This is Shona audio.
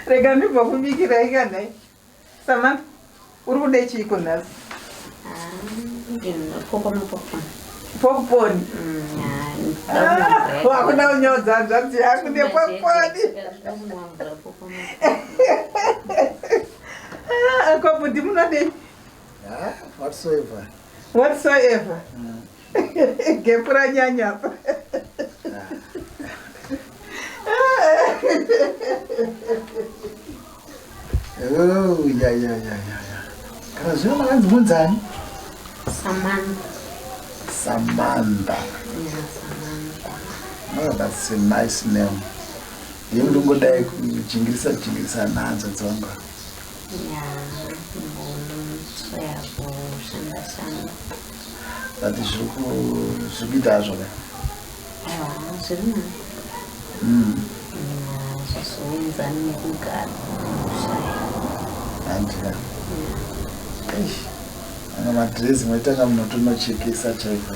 rega ndibva kubikira ikanai samantha uri kude chiiko nhasi popcorn wakuda kunyodza hanzvadzi yangu nepopcorn Ah, ko bhudhi munodei? Ah, whatsoever. Whatsoever. Mm. Gepu ranyanya apa. Oh, ya ya ya ya. Kana zvino makanzi munzani? Samantha. Samantha. Yeah, Samantha. Oh, that's a nice name. Ndiye ndongodai kujingirisa jingirisa nhanzva dzangu. But zviri kuita hazvo ka? Zviri na. Mm. Zvasoenzana nekugara kushaya. Handika. Eish. Ana madrezi mwaitanga munotonochekesa chaiko.